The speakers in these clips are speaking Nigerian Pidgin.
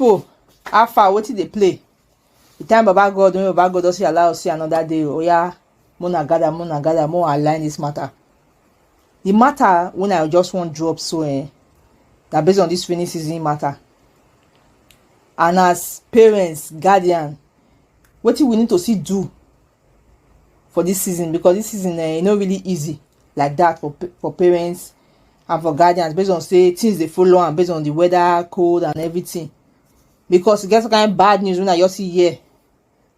people how far wetin dey play the time baba god when baba god don say allow us see another day oya mona gather mona gather mo align this matter the matter when i just wan drop so eh na based on this rainy season matter and as parents guardian wetin we need to see do for this season because this season eh e no really easy like that for for parents and for guardians based on say things dey follow am based on the weather cold and everything because e get some kind bad news wey i just see here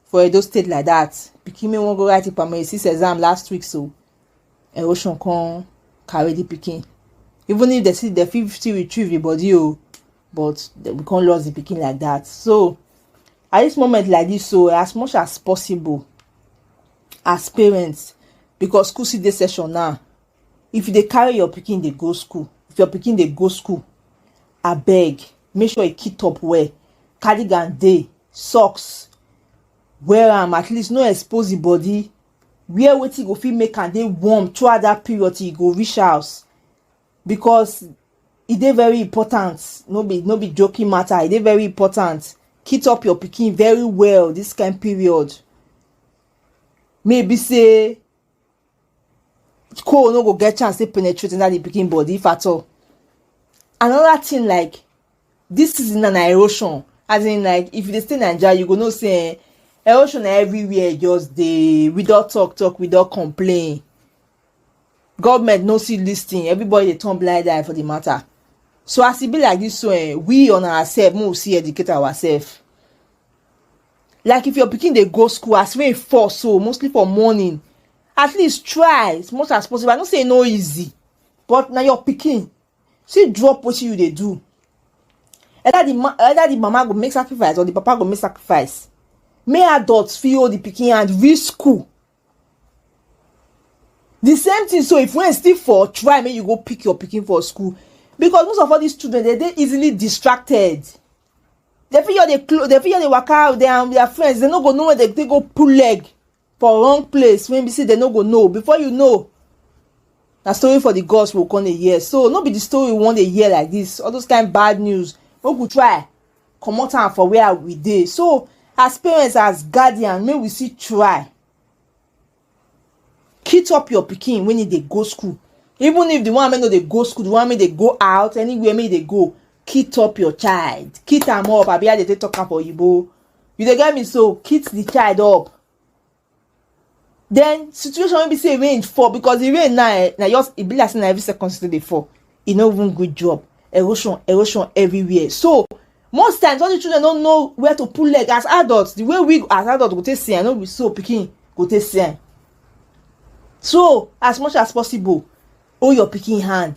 for edo state like that pikin wey wan go write im primary six exam last week so erosion come carry the pikin even if dem still dem fit still retrieve the body o but we come lost the pikin like that so at this moment like this so as much as possible as parents because school still dey session now if you dey carry your pikin dey go school if your pikin dey go school abeg make sure you kit up well cardigan dey socks wear am at least no expose the body wear wetin go fit make am dey warm throughout that period till you go reach house because e dey very important no be no be joking matter e dey very important kit up your pikin very well this kind period maybe say coal no go get chance to penetrate inside the pikin body if at all another thing like this season na erosion as in like if you dey stay naija you go know say eh, erosion na everywhere just dey we don talk talk we don complain government no see this thing everybody dey turn blind eye for the matter so as e be like this so eh, we on ourselves make we see educate ourselves like if your pikin dey go school as rain fall so mostly for morning at least try as much as possible i know say e no easy but na your pikin still drop wetin you dey do either the ma either the mama go make sacrifice or the papa go make sacrifice make adults fit hold the pikin hand reach school the same thing so if rain still fall try make you go pick your pikin for school because most of all these children dey dey easily distracted They fit just dey close, they fit just dey waka out there and their friends. They no go know where they, they go pull leg for wrong place when be say they no go know. Before you know, na story for the gods will come a year. So no be the story we want a year like this. All those kind bad news. We could try come out and for where we dey. So as parents, as guardian, may we see try. kit up your pikin when e dey go school even if the one wey no dey go school the one wey dey go out anywhere wey e dey go kit up your child kit am up abi how dey take talk am for oyibo you dey get me so kit the child up then situation wey be say rain fall because the rain now eh na just e be like say na every second still dey fall e no even good job erosion erosion everywhere so most times all the children no know where to put leg as adults the way we as adults go take see am no be so pikin go take see am so as much as possible hold your pikin hand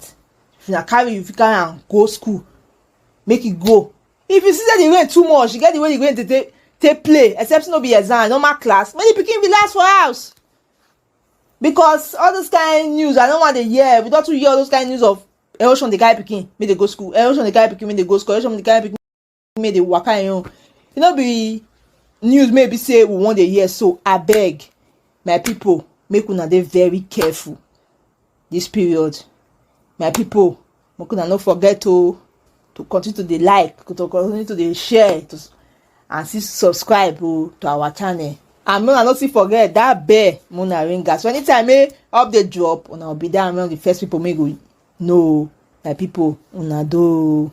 if na carry you fit carry am go school make e go if you see say the rain too much you get the way the rain dey take take play except no be exam normal class many pikin be last for house because all those kind news i no wan dey hear we don too hear all those kind news of erosion dey carry pikin make dey go school erosion dey carry pikin make dey go school erosion dey carry pikin make dey waka im own e no be news may be say we wan dey hear so abeg my people make una dey very careful this period my people make una no forget to to continue to dey like to continue to dey share to and still subscribe oh, to our channel and make una no still forget that bell make una ring am so anytime wey eh, update drop una go be there among the first people make go know my people una do.